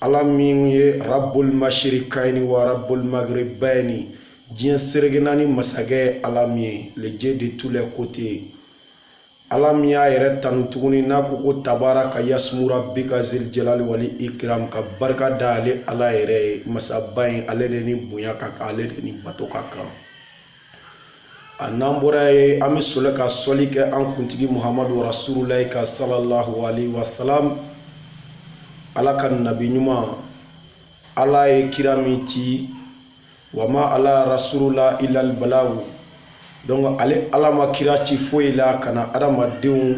ala min ye rabul mashrikaini wa rabul magribaini diɲɛ sereke naani masakɛ ala min ye le Dieu de tous les côtés ye ala min y'a yɛrɛ tanu tuguni n'a ko ko tabaraka yasmu rabika zil jalali wal ikram ka barika da ale ala yɛrɛ ye masaba in ale de ni bonya ka kan ale de ni bato ka kan A n'an bɔra yen an bɛ sɔrɔ ka sɔli kɛ an kuntigi Muhamadu rasululahi kan salalahu alehi wa salam Ala ka nabi ɲuman Ala ye kira min ci wa ma ala rasulula ilal balagu donc ale Ala ma kira ci foyi la ka na adamadenw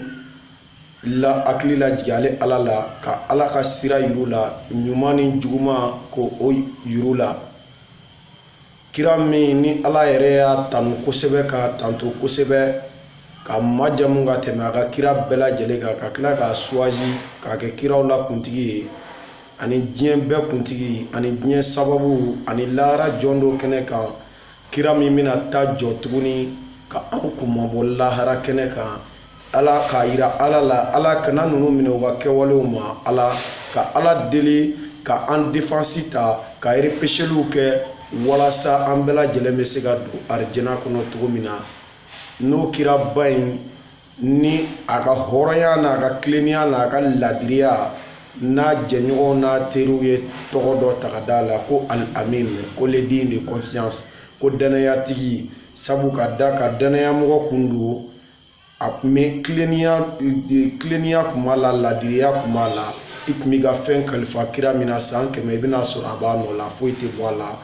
la hakili lajigin ale Ala la ka Ala ka sira yir'u la ɲuman ni juguman k'o yir'u la kira min ni ala yɛrɛ y'a tanu kosɛbɛ k'a tando kosɛbɛ k'a majamu ka tɛmɛ a ka kira bɛɛ lajɛlen kan ka tila k'a suwazi k'a kɛ kiraw la kuntigi ye ani diɲɛ bɛɛ kuntigi ani diɲɛ sababu ani lahara jɔ don kɛnɛ kan kira min bɛna taa jɔ tuguni ka anw kunmabɔ lahara kɛnɛ kan ala k'a yira ala la ala kana ninnu minɛ u ka kɛwalew ma ala ka ala deli ka an defansi ta ka repêcheliw kɛ walasa an bɛɛ lajɛlen bɛ se ka don arijana kɔnɔ cogo min na n'o kira ba in ni a ka hɔrɔnya n'a ka tilennenya n'a ka laadiriya n'a jɛɲɔgɔn n'a teriw ye tɔgɔ dɔ ta ka d'a la ko al-amin ko le digne de confiance ko dannayatigi sabu ka d'a kan dannayamɔgɔ kun don a kun bɛ kilennenya kilennenya kun b'a la laadiriya kun b'a la i kun b'i ka fɛn kalifa kira min na san kɛmɛ i bɛna a sɔrɔ a b'a nɔ la foyi tɛ bɔ a la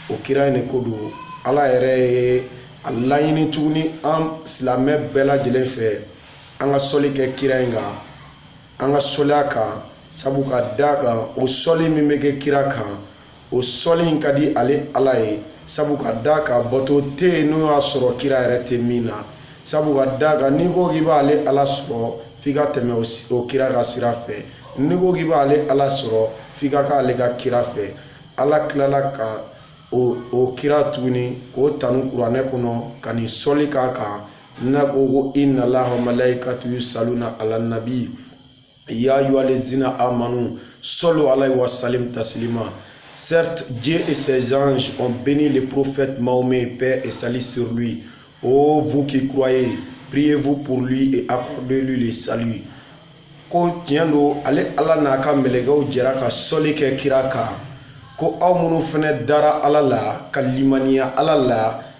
o kira in de ko don ala yɛrɛ ye a laɲini tuguni an silamɛ bɛɛ lajɛlen fɛ an ka sɔli kɛ kira in kan an ka sɔli a kan sabu ka d'a kan o sɔli min bɛ kɛ kira kan o sɔli in ka di ale ala ye sabu ka d'a kan bato tɛ yen n'o y'a sɔrɔ kira yɛrɛ tɛ min na sabu ka d'a kan n'i ko k'i b'ale ala sɔrɔ f'i ka tɛmɛ o kira ka sira fɛ n'i ko k'i b'ale ala sɔrɔ f'i ka k'ale ka kira fɛ ala tilala ka o kira tuguni k'o tanu kuranɛ kɔnɔ ka nin sɔli k'a kan n'a ko ko inna laha wa malaikatuhu yusaluna ala nabi ya ayuha lazina amanu salu alayhi wa salim tasilima certes Dieu et ses anges ont béni le prophète Mahomet paix et salut sur lui ô vous qui croyez priez-vous pour lui et accordez-lui le salut ko tiɲɛ don ale ala n'a ka mɛlɛkɛw jɛra ka sɔli kɛ kira kan ko aw minnu fɛnɛ dara ala la ka limaniya ala la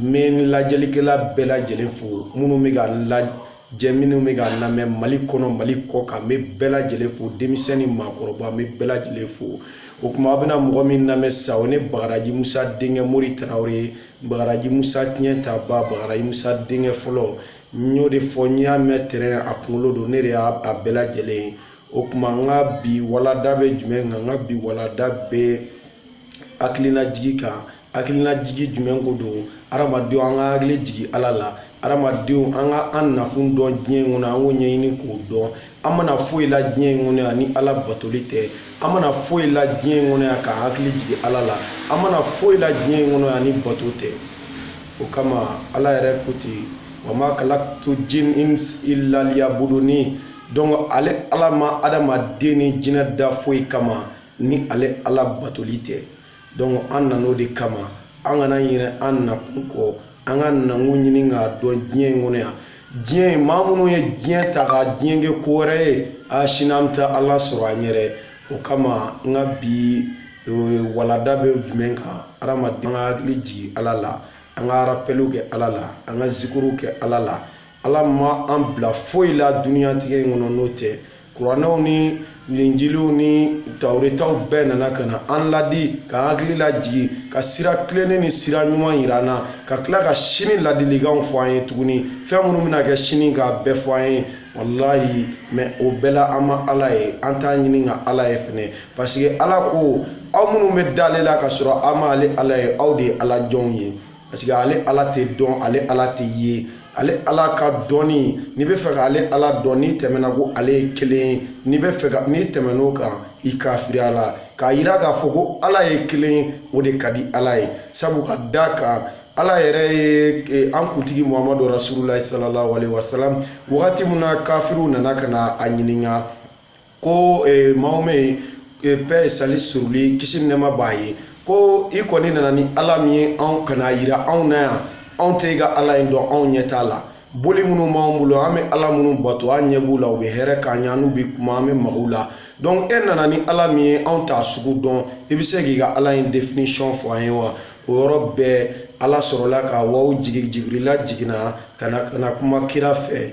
n bɛ n lajɛlikɛla bɛɛ lajɛlen fo minnu bɛ ka n lajɛ minnu bɛ ka n lamɛn mali kɔnɔ mali kɔ kan n bɛ bɛɛ lajɛlen fo denmisɛn ni maakɔrɔba n bɛ bɛɛ lajɛlen fo o tuma aw bɛna mɔgɔ min lamɛn sa o ne bagaraji musa denkɛ mori tarawele ye bagaraji musa tiɲɛ ta ba bagaraji musa denkɛ fɔlɔ n y'o de fɔ n y'a mɛn tɛrɛn a kunkolo don ne de y'a bɛɛ lajɛlen ye o tuma n ka bi walada bɛ jumɛn kan n ka bi walada bɛ hakilina jigin kan hakilina jigin jumɛn ko don hadamadenw an ka hakili jigin ala la hadamadenw an ka an nakun dɔn diɲɛ in kɔnɔ an k'o ɲɛɲini k'o dɔn an ma na foyi la diɲɛ in kɔnɔ yan ni ala batoli tɛ an ma na foyi la diɲɛ in kɔnɔ yan ka hakili jigin ala la an ma na foyi la diɲɛ in kɔnɔ yan ni bato tɛ o kama ala yɛrɛ ko ten wa ma kalaktu jin illa liyabuduni donc ale ala ma adamaden ni jinɛ da foyi kama ni ale ala batoli tɛ donc an nana o de kama an kana ɲinɛ an nakun kɔ an ka nakun ɲini k'a dɔn diɲɛ in kɔnɔ yan diɲɛ maa minnu ye diɲɛ ta ka diɲɛ kɛ ko wɛrɛ ye a sini an bɛ taa ala sɔrɔ an yɛrɛ o kama n ka bi walada bɛ jumɛn kan adamaden ka hakili jigin ala la an ka arapeliw kɛ ala la an ka zikuruw kɛ ala la ala ma an bila foyi la dunyatigɛ in kɔnɔ n'o tɛ kuranɛw ni linjiliw ni tawuretaw bɛɛ nana ka na an ladi ka an hakili lajigin ka sira tilennen ni sira ɲuman yira an na ka tila ka sini ladilikanw fɔ an ye tuguni fɛn minnu bɛna kɛ sini k'a bɛɛ fɔ an ye walayi mɛ o bɛɛ la an ma ala ye an t'a ɲini ka ala ye fɛnɛ paseke ala ko aw minnu bɛ d'ale la ka sɔrɔ aw ma ale ala ye aw de ye ala jɔnw ye paseke ale ala tɛ dɔn ale ala tɛ ye ale ala ka dɔnni n'i bɛ fɛ ka ale ala dɔn n'i tɛmɛna ko ale ye kelen ye n'i bɛ fɛ ka n'i tɛmɛn'o kan i kafiriyala k'a yira k'a fɔ ko ala ye kelen ye o de ka di ala ye sabu ka d'a kan ala yɛrɛ ye an kuntigi muhamadu rasululayi salalahu alehi wasalam wagati min na kafiriw nana ka na a ɲininka ko mahomet paix et salut sur lui kisi ni nɛma b'a ye ko i kɔni nana ni ala min ye ka n'a yira anw na yan anw tɛ i ka ala in dɔn anw ɲɛ t'a la boli minnu b'an bolo an bɛ ala minnu bato an ɲɛ b'u la u bɛ hɛrɛ k'an ye an n'u bɛ kuma an bɛ maga u la donc e nana ni ala min ye anw t'a sugu dɔn i bɛ se k'i ka ala in définition fɔ an ye wa o yɔrɔ bɛɛ ala sɔrɔla ka wahyu jigin jibirila jiginna ka na ka na kuma kira fɛ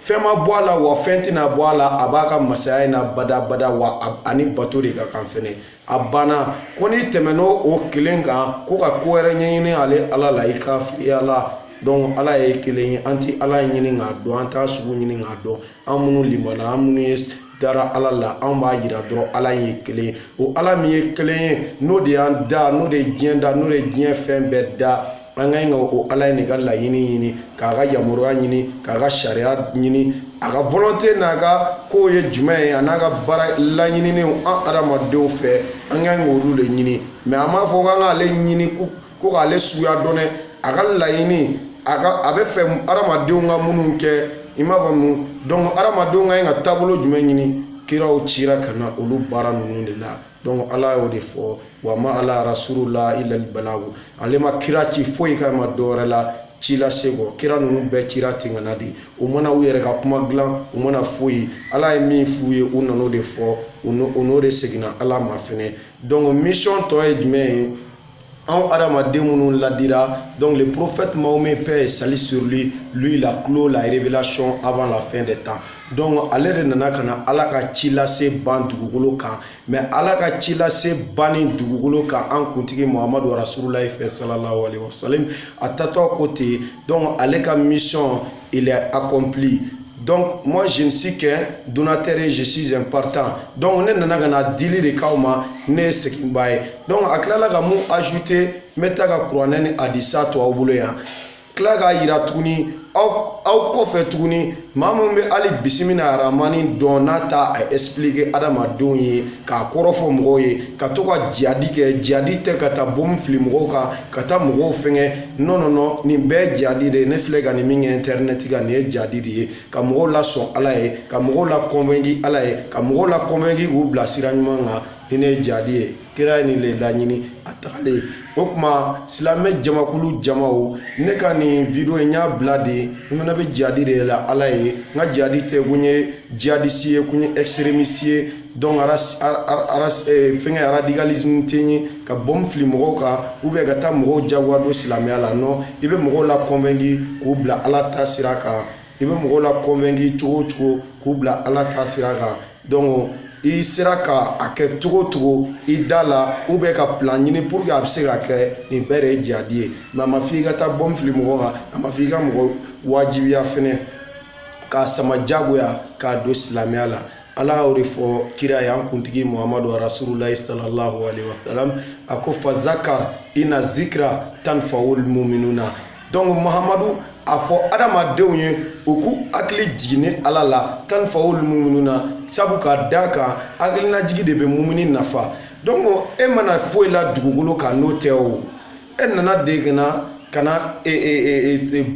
fɛn ma bɔ a la wa fɛn tɛna bɔ a la a b'a ka masaya in na badabada wa a ni bato de ka kan fɛnɛ a banna ko n'i tɛmɛn'o o kelen kan ko ka ko wɛrɛ ɲɛɲini ale ala la i kafiriyala donc ala ye kelen ye an tɛ ala ɲini k'a dɔn an t'a sugu ɲini k'a dɔn an minnu limana an minnu ye dara ala la an b'a yira dɔrɔn ala ye kelen ye o ala min ye kelen ye n'o de y'an da n'o de ye diɲɛ da n'o de ye diɲɛ fɛn bɛɛ da an ka ɲi ka o ala in de ka laɲini ɲini k'a ka yamaruya ɲini k'a ka sariya ɲini a ka volonte n'a ka kow ye jumɛn ye a n'a ka baara laɲininenw an adamadenw fɛ an ka ɲi k'olu de ɲini mais a m'a fɔ k'an k'ale ɲini ko k'ale suguya dɔn dɛ a ka laɲini a ka a bɛ fɛ adamadenw ka minnu kɛ i m'a faamu donc adamadenw ka ɲi ka taabolo jumɛn ɲini kiraw cira ka na olu baara ninnu de la donc ala y'o de fɔ wa ma ala rasulu la ilal balagu ale ma kira ci foyi kama dɔwɛrɛ la ci lase kɔ kira ninnu bɛɛ cira ten ka na de u ma na u yɛrɛ ka kuma dilan u ma na foyi ala ye min f'u ye u nan'o de fɔ u n'o de seginna ala ma fɛnɛ donc mission tɔ ye jumɛn ye anw hadamaden minnu ladira donc le prophète mahomet paix et salut sur lui lui il a clos la révélation avant la fin des temps donc ale de nana ka na ala ka ci lase ban dugukolo kan mais ala ka ci lase banni dugukolo kan an kuntigi muhamadu rasululayi fɛ salalahu alaihi wasalim a taatɔ ko ten donc ale ka mission il est accompli donc moi je ne suis qu'un donateur et je suis un partant donc ne nana ka na dili de k'aw ma ne ye seginbaa ye donc a tilala ka mun ajouter n bɛ taa ka kuranɛ ni hadisa to aw bolo yan tila k'a yira tuguni aw aw kɔfɛ tuguni maa min bɛ hali bisimila aramani dɔn n'a ta a expliquer adamadenw ye k'a kɔrɔfɔ mɔgɔw ye ka to ka jihadi kɛ jihadi tɛ ka taa bombe fili mɔgɔw kan ka taa mɔgɔw fɛngɛ non non non nin bɛɛ jihadi de ye ne filɛ ka nin min kɛ internet kan nin ye jihadi de ye ka mɔgɔw lasɔn ala ye ka mɔgɔw la convaincu ala ye ka mɔgɔw la convaincu k'u bila sira ɲuman kan nin ne ye jihadi ye kira ye nin le laɲini a tagalen o tuma silamɛ jamakulu jamaw ne ka nin video in y'a bila de n fana bɛ jihadi de la ala ye n ka jihadi tɛ ko n ye jihadiste ye ko n ye extrémiste ye fɛnkɛ radicalisme tɛ n ye ka bombe fili mɔgɔw kan ka taa mɔgɔw jagoya don silamɛya la non i bɛ mɔgɔw la convaincu k'u bila Ala ta sira kan i bɛ mɔgɔw la convaincu cogo o cogo k'u bila Ala ta sira kan donc i sera ka a kɛ cogo o cogo i da la ou bien ka plan ɲini pour que a bɛ se ka kɛ nin bɛɛ de ye jihadi ye mais a ma f'i ka taa bombe fili mɔgɔw kan a ma f'i ka mɔgɔw wajibiya fɛnɛ k'a sama jagoya k'a don silamɛya la. ala y'o de fɔ kira ye an kuntigi muhamadu rasululayi sallallahu alaihi wasallam a ko fazakara ina zikira tanfawul muminuna donc muhamadu a fɔ adamadenw ye u k'u hakili jiginni ala la tanfawul muminuna sabu ka da kan hakilinajigi de bɛ mumini nafa donc e ma na foyi la dugukolo kan n'o tɛ o e nana dege na ka na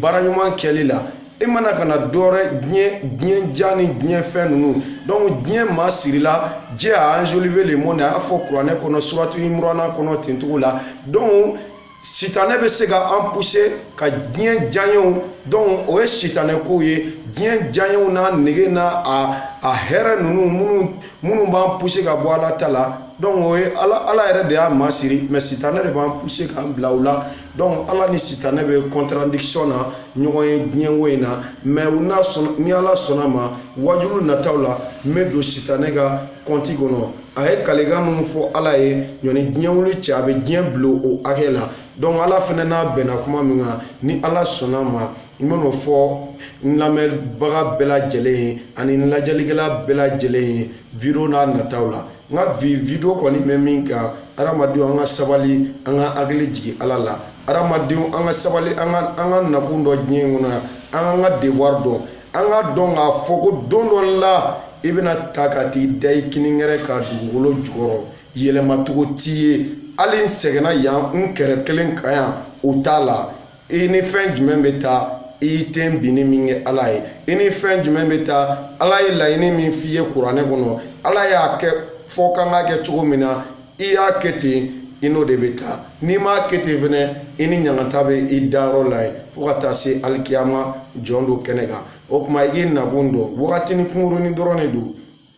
baara ɲuman kɛli la e ma na ka na dɔwɛrɛ diɲɛ diɲɛ ja ni diɲɛ fɛn ninnu donc diɲɛ masirila Dieu a enjolivé le monde a y'a fɔ kuranɛ kɔnɔ suratu imurana kɔnɔ ten cogo la donc sitanɛ bɛ se ka an pousser ka diɲɛ diyaɲew donc o ye sitanɛ kow ye diɲɛ diyaɲew n'a nege n'a a a hɛrɛ ninnu minnu minnu b'an pousser ka bɔ ala ta la donc o ye ala ala yɛrɛ de y'a masiri mais sitanɛ de b'an pousser k'an bila o la donc ala ni sitanɛ bɛ contradiction na ɲɔgɔn ye diɲɛko in na mais u n'a sɔnna ni ala sɔnna ma wajulu nataw la n bɛ don sitanɛ ka kɔnti kɔnɔ a ye kalikan minnu fɔ ala ye ɲɔni diɲɛ wuli cɛ a bɛ diɲɛ bila o hakɛ la donc ala fana n'a bɛnna kuma min kan ni ala sɔnna ma n bɛn'o fɔ n lamɛnbaga bɛɛ lajɛlen ye ani n lajɛlikɛla bɛɛ lajɛlen ye video n'a nataw la n ka bi video kɔni bɛ min kan hadamadenw an ka sabali an ka hakili jigin ala la hadamadenw an ka sabali an ka an ka nakun dɔn diɲɛ in kɔnɔ yan an k'an ka devoir dɔn an k'a dɔn k'a fɔ ko don dɔ la i bɛna taa ka t'i da i kininkɛrɛ kan dugukolo jukɔrɔ yɛlɛmacogo t'i ye hali n sɛgɛnna yan n kɛrɛ kelen kan yan o t'a la i ni fɛn jumɛn bɛ taa i ye tenbinni min kɛ ala ye i ni fɛn jumɛn bɛ taa ala ye laɲini min f'i ye kuranɛ kɔnɔ ala y'a kɛ fɔ ka kan ka kɛ cogo min na i y'a kɛ ten i n'o de bɛ taa n'i m'a kɛ ten fana i ni ɲangata bɛ i dayɔrɔ la yen fo ka taa se alikiyama jɔn don kɛnɛ kan o tuma i k'i nakun dɔn wagatinin kunkurunnin dɔrɔn de don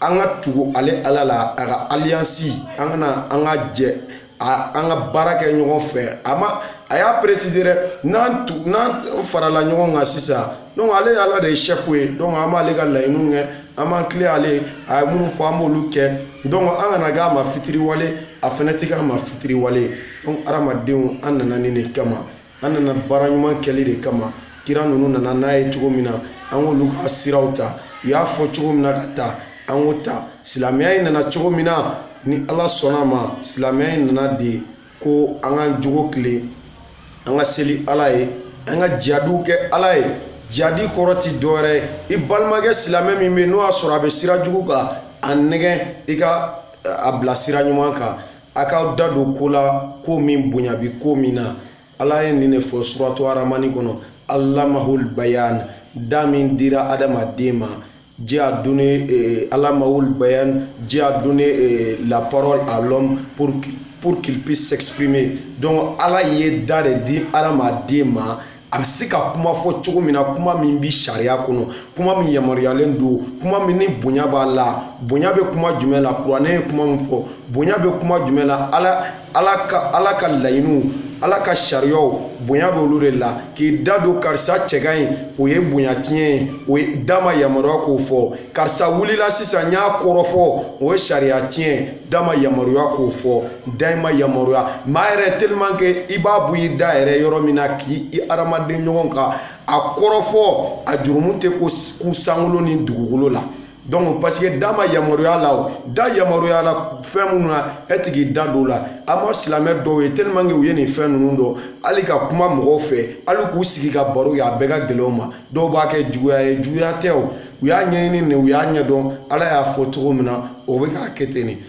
an ka tugu ale ala la a ka alliance an kana an ka jɛ a an ka baara kɛ ɲɔgɔn fɛ a ma a y'a préciser dɛ n'an tu n'an farala ɲɔgɔn kan sisan donc ale ye ala de ye chef ye donc an b'ale ka laɲiniw kɛ an b'an kilen ale ye a ye minnu fɔ an b'olu kɛ donc an kana kɛ a ma fitiriwale a fɛnɛ ti k'a ma fitiriwale ye donc hadamadenw an nana nin de kama an nana baara ɲuman kɛli de kama kira ninnu nana n'a ye cogo min na an k'olu ka siraw ta u y'a fɔ cogo min na ka taa an k'o ta silamɛya in nana cogo min na ni ala sɔnna a ma silamɛya in nana de ko an ka jogo kilen an ka seli ala ye an ka jihadiw kɛ ala ye jihadi kɔrɔ ti dɔwɛrɛ ye i balimakɛ silamɛ min bɛ yen n'o y'a sɔrɔ a bɛ sira jugu kan a nɛgɛn i ka a bila sira ɲuman kan a k'a da don ko la ko min bonya bi ko min na ala ye nin de fɔ suratu aramani kɔnɔ alamahul bayan da min dira adamaden ma Dieu a donné eh, alamahul bayan, Dieu a donné eh, la parole à l'homme pour, pour qu'il puisse s'exprimer. Donc Allah ye da de di adamaden ma a bɛ se ka kuma fɔ cogo min na kuma min bɛ sariya kɔnɔ kuma min yamaruyalen don kuma min ni bonya b'a la bonya bɛ kuma jumɛn la kuranɛ ye kuma min fɔ bonya bɛ kuma jumɛn la ala ala ka ala ka laɲiniw ala ka sariyaw bonya bɛ olu de la k'i da don karisa cɛ ka ɲi o ye bonya tiɲɛ ye o ye da ma yamaruya k'o fɔ karisa wulila sisan n y'a kɔrɔfɔ o ye sariya tiɲɛ da ma yamaruya k'o fɔ da in ma yamaruya maa yɛrɛ tellement que i b'a bɔ i da yɛrɛ yɔrɔ min na k'i i hadamaden ɲɔgɔn kan a kɔrɔfɔ a jurumu tɛ kun sankolo ni dugukolo la donc parce que da ma yamaruya la da yamaruyala fɛn minnu na e tɛ k'i da don o la an ma silamɛ dɔw ye tellement que u ye nin fɛn ninnu dɔn hali ka kuma mɔgɔw fɛ hali k'u sigi ka baro kɛ a bɛɛ ka gɛlɛn u ma dɔw b'a kɛ juguya ye juguya tɛ u y'a ɲɛɲini u y'a ɲɛdɔn ala y'a fɔ cogo min na o bɛ k'a kɛ ten nin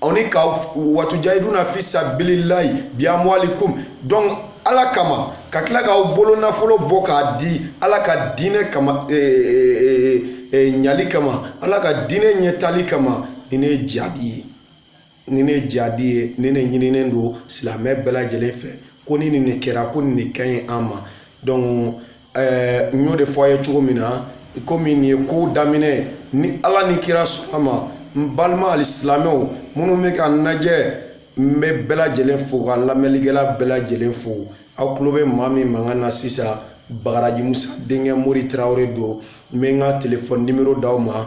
aw ni ka watujahiduna fi sabilillahi bi amwalikum donc ala kama ka tila k'aw bolo nafolo bɔ k'a di ala ka diinɛ kama e, e, e, ɲali kama ala ka diinɛ ɲɛtali kama nin de ye jihadi ye nin de ye jihadi ye nin de ɲininen don silamɛ bɛɛ lajɛlen fɛ ko ni nin de kɛra ko nin de ka ɲi an ma donc ɛɛ n y'o de fɔ a ye cogo min na komi nin ye ko daminɛ ni ala ni kira sɔnna ma n balima alisilamɛw minnu bɛ ka n lajɛ n bɛ bɛɛ lajɛlen fo ka n lamɛnnikɛla bɛɛ lajɛlen fo aw tulo bɛ maa min mankan na sisan bagadaji musa denkɛ mori tarawele don n bɛ n ka telefɔni nimɔrɔ d'aw ma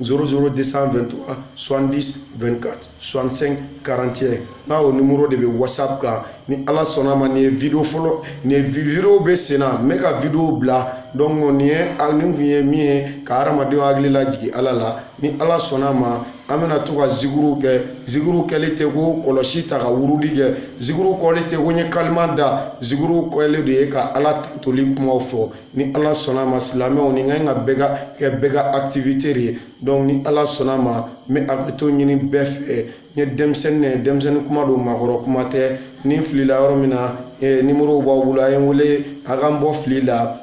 00223 70 24 65 41 n'a o nimɔrɔ de bɛ whatsapp kan ni ala sɔnna ma nin video fɔlɔ nin video bɛ sen na n bɛ ka video bila donc nin ye a nin kun ye min ye ka hadamadenw hakili lajigin ala la ni ala sɔnna ma an bɛna to ka zikuru kɛ zikuru kɛli tɛ ko kɔlɔsi ta ka wurudi kɛ zikuru kɛli tɛ ko ye kalima da zikuru kɛli de ye ka ala tandoli kuma fɔ ni ala sɔnna ma silamɛw nin ka kan bɛɛ ka kɛ bɛɛ ka activité de ye donc ni ala sɔnna ma n bɛ hakɛto ɲini bɛɛ fɛ n ye denmisɛnnin de ye denmisɛnnin kuma don maakɔrɔ kuma tɛ ni n filila yɔrɔ min na nimɔrɔ b'aw bolo a ye n wele a ka n bɔ fili la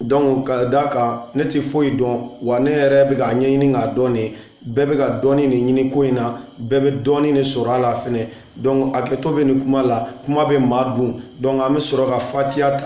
donc ka d'a kan ne tɛ foyi dɔn wa ne yɛrɛ bɛ k'a ɲɛɲini k'a dɔn de bɛɛ bɛ ka dɔɔnin de ɲini ko in na bɛɛ bɛ dɔɔnin de sɔrɔ a la fɛnɛ donc hakɛto bɛ nin kuma la kuma bɛ maa dun donc an bɛ sɔrɔ ka fatiha ta